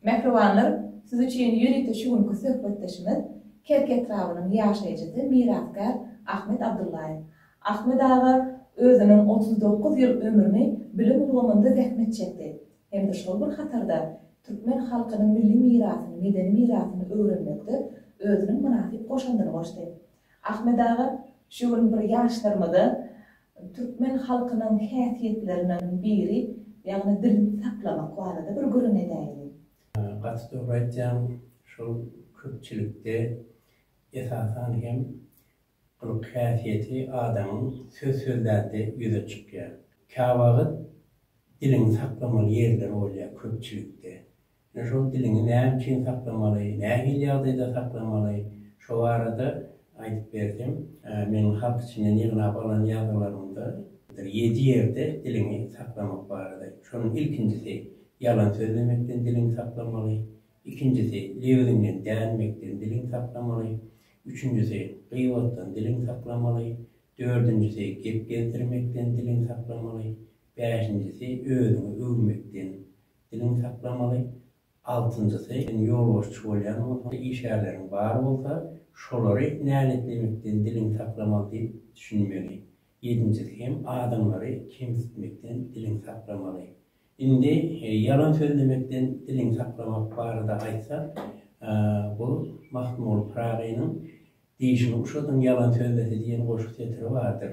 Mähribanlar, siz üçin ýörite şu günki söhbetdeşimiz Kerki etrabynyň ýaşaýjysy mirasgär Ahmet Abdullaýew. Ahmet aga özüniň otuz dokuz ýyl ömrüni bilim ulgamynda zähmet çekdi hem-de şol bir hatarda türkmen halkynyň milli mirasyny, medeni mirasyny öwrenmekde özüniň mynasyp goşandyny goşdy. Ahmet aga, şu gün bir ýaşlarymyza türkmen halkynyň häsiýetlerinden biri, ýagny dilini saklamak barada bir gürrüň edäýeli. Gaty dogry aýtýaň, şol köpçülikde esasan hem gylyk häsiýeti adamyň söz sözlände ýüze çykýar. Käwagt diliňi saklamaly ýerler bolýar köpçülikde. Ýöne şol diliňi näme üçin saklamaly, nähili ýagdaýda saklamaly, şo barada aýdyp berseň, meniň halk içinden ýygnap alan ýazgylarymda bir ýedi ýerde diliňi saklamak barada. Şonuň ilkinjisi, ýalan sözlemekden diliňi saklamaly, ikinjisi, lebiziňden dänmekden diliňi saklamaly, üçünjisi, gybatdan diliňi saklamaly, dördünjisi, gep gezdirmekden diliňi saklamaly, bäşinjisi, özüňi öwmekden Diliňi saklamaly. Altynjysy, sen ýolbaşçy bolýan bolsaň, işgärleriň bar bolsa, şolary näletlemekden diliňi saklamaly diýip düşünmeli. Ýedinjisi hem adamlary kemsitmekden diliňi saklamaly. Indi ýalan sözlemekden diliňi saklamak barada aýtsak, bu Magtymguly Pyragynyň Dişiňi uşadyň, ýalan sözlese diýen goşgy setiri bardyr.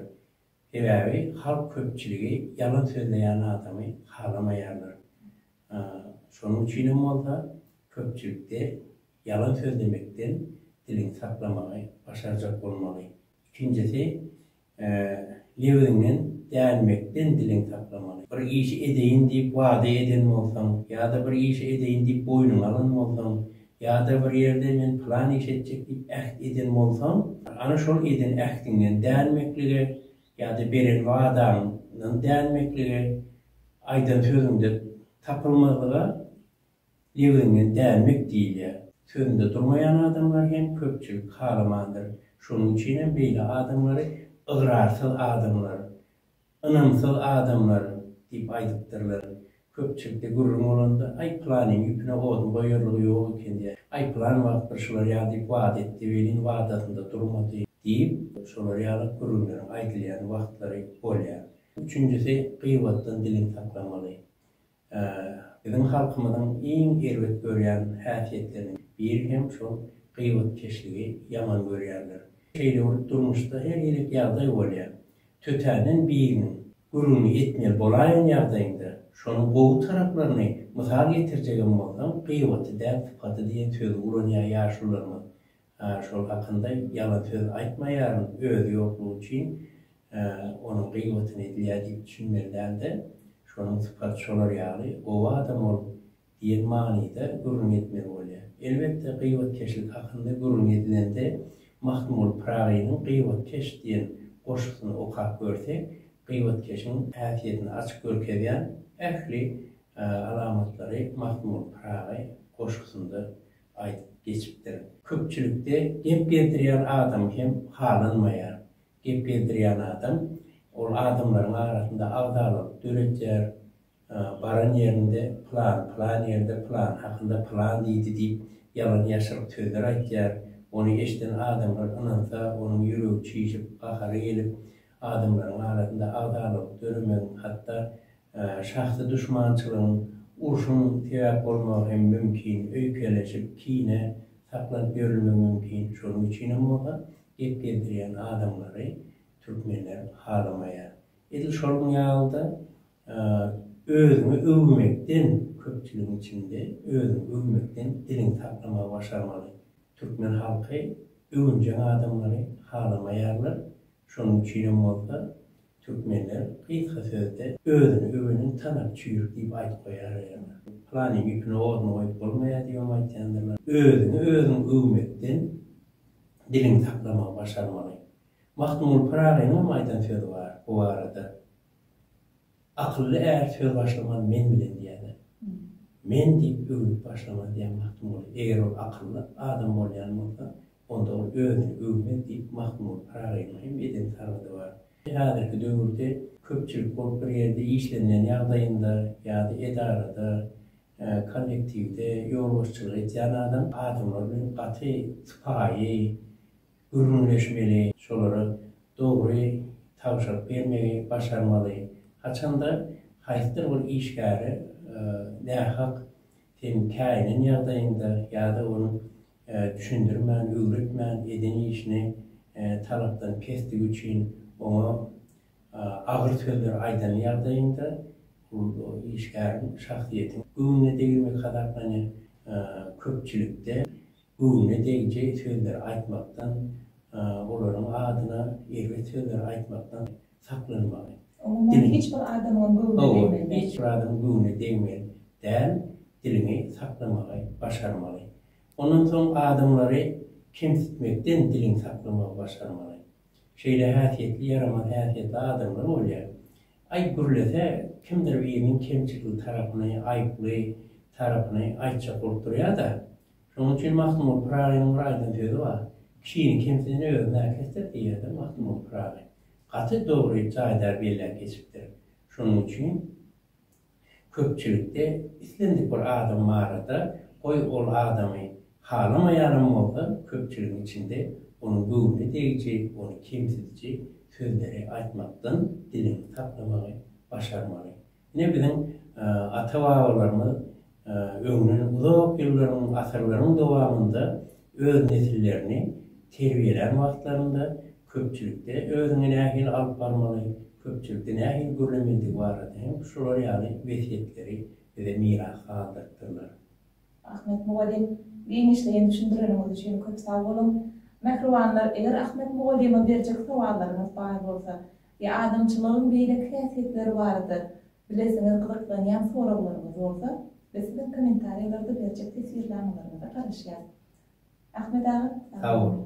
Sebäbi halk köpçüligi ýalan sözleýän adamy halamaýarlar. Şonuň üçin hem bolsa köpçülikde ýalan sözlemekden diliňi saklamagy başarjak bolmaly. Ikinjisi, lebiňden dänmekden diliňi saklamaly. Bir işi edeýin diýip wada eden bolsaň ýa-da bir işi edeýin diýip boýnuňa alan bolsaň, Ýa-da bir ýerde men pylan iş etjek diýip äht eden bolsaň, ana şol eden ähtiňden dänmeklige ýa-da beren wadaňdan dänmeklige, aýdan sözüňde tapylmazlyga lebiňden dänmek diýilýär. Sözünde durmaýan adamlary hem köpçülik halamandyr. Şonuň üçinem beýle adamlary ygrarsyz adamlar, Ynamsyz adamlar! diýip aýdypdyrlar. Köpçülikde gürrüň bolanda, Aý, pylanyň ýüpüne oduň goýarlygy ýok eken, diýär. Aý, pylan wagt bir şular ýaly diýip wada etdi, welin, wadasynda durmady, diýip, şolar ýaly gürrüňleriň aýdylýan wagtlary bolýar. Üçünjisi, gyýbatdan diliňi saklamaly. Biziň halkymyzyň iň erbet görýän häsiýetleriniň biri hem şol gyýbatkeşligi ýaman görýärler. Şeýle bolup durmuşda her gezek ýagdaý bolýar. Tötänden biriniň gürrüňini etmeli bolaýan ýagdaýyňda, şonuň gowy taraplaryny mysal getirjegem bolsaň, gyýbaty däl sypaty diýen sözi ulanýar ýaşularymyz. Hä, şol hakynda ýalan söz aýtmaýaryn, özi ýoklugy üçin onuň gyýbatyny edilýär diýip düşünmeli däl-de, şonuň sypaty şolar ýaly gowy adam ol diýen manyda gürrüň etmeli bolýar. Elbetde, gyýbatkeşlik hakynda gürrüň edilende Mahmul Pyragynyň Gyýbatkeş diýen goşgusyny okap görsek, gyýbatkeşiň häsiýetini açyk görkezýän ähli alamatlary Mahmul Pyragy goşgusynda aýdyp geçipdir. Köpçülikde gep gezdirýän adam hem halanmaýar. Gep gezdirýän adam ol adamlaryň arasynda agzalaryk döretýär, baran ýerinde pylan pylan ýerde pylan hakynda pylan diýdi diýip ýalan ýaşryk sözler aýtýar. Ony eşden adamlar ynansa onuň ýüregi çişip, gahary gelip adamlaryň arasynda agzalaryk döremegiň hatda Şahsy duşmançylygyň, urşuň sebäp bolmagy hem mümkin, öýkeleşip, kine saklanyp ýörülmegi mümkin. Şonuň üçinem bolsa, gep gezdirýän adamlary türkmenler halamaýar. Edil şonuň ýaly-da, özüňi öwmekden, köpçüligiň içinde özüňi öwmekden diliňi saklamagy başarmaly. Türkmen halky öwünjeň adamlary halamaýarlar. Şonuň üçinem bolsa, Türkmenler gysga sözde özüni öwenen tanak çüýrük diýip aýdyp goýar eýeler. Pylanyň ýüpüni ornuna goýup bolmaýar diýibem aýtýandyrlar. Özüňi özüň öwmekden diliňi saklamagy başarmaly. Magtymguly Pyragynyň hem aýdan sözi bar bu barada. Akylly är söz başlamaz men bilen diýýärler. Men diýip öwnüp başlamaz diýýär Magtymguly. Eger ol akylly adam bolýan bolsa, Onda ol özüni öwmez diýip Mahmud Paragynyň hem eden sargydy bar. Häzirki döwürde köpçülik bolup bir ýerde işlenilen ýagdaýynda ýa-da edarada, kollektiwde ýolbaşçylyk edýän adam adamlar bilen gaty sypaýy gürrüňleşmeli, şolara dogry tabşyryk bermegi başarmaly. Haçanda haýsydyr bir işgäre nähak sen käýinen ýagdaýyňda ýa-da onuň düşündirmän, öwretmän, eden işini talapdan pesdigi üçin oňa agyr sözler aýdan ýagdaýynda bu işgäriň, şahsyýetiň göwnüne degilmek hasaplanýar. Köpçülikde göwnüne degjeý sözleri aýtmakdan, olaryň adyna erbet sözleri aýtmakdan saklanmaly. Umuman hiç bir adamyň göwnüne degmeli däl. Hawa, hiç bir adamyň göwnüne degmeli däl, diliňi saklamagy başarmaly. Ondan soň adamlary kemsitmekden diliňi saklamagy başarmaly. Şeýle häsiýetli ýaramaz häsiýetli adamlar bolýar. Aý gürlese, kimdir biriniň kemçilikli tarapyny, aýyply tarapyny aýtjak bolup durýar-da. Şonuň üçin Magtymguly Pyragynyň bir aýdan sözi bar, Kişini kemsiden özüni-ä kesdir diýýär-de Magtymguly Pyragy. gaty dogry jaýda belläp geçipdir. Şonuň üçin köpçülikde islendik bir adam barada, goý ol adamy halamaýanam bolsa, köpçüligiň içinde onuň göwnüne degiji, ony kemsidiji sözleri aýtmakdan diliňi saklamagy başarmaly. Ine biziň ata-babalarymyz öňden uzak ýyllaryň, asyrlaryň dowamynda öz nesillerini terbiýelän wagtlarynda köpçülikde özüňi nähili alyp barmaly, köpçülikde nähili gürlemelidigi barada hem şular ýaly wesýetleri bize miras galdyrypdyrlar. Ahmet mugallym, giňişleýin düşündireniňiz üçin köp sag boluň. Mähribanlar, eger Ahmet mugallyma berjek sowallaryňyz bar bolsa, ýa adamçylygyň beýleki häsiýetleri barada bilesiňiz gyzyklanýan soraglaryňyz bolsa, biz siziň kommentariýalarda berjek teswirnamalaryňyza garaşýas. Ahmet aga, sag boluň!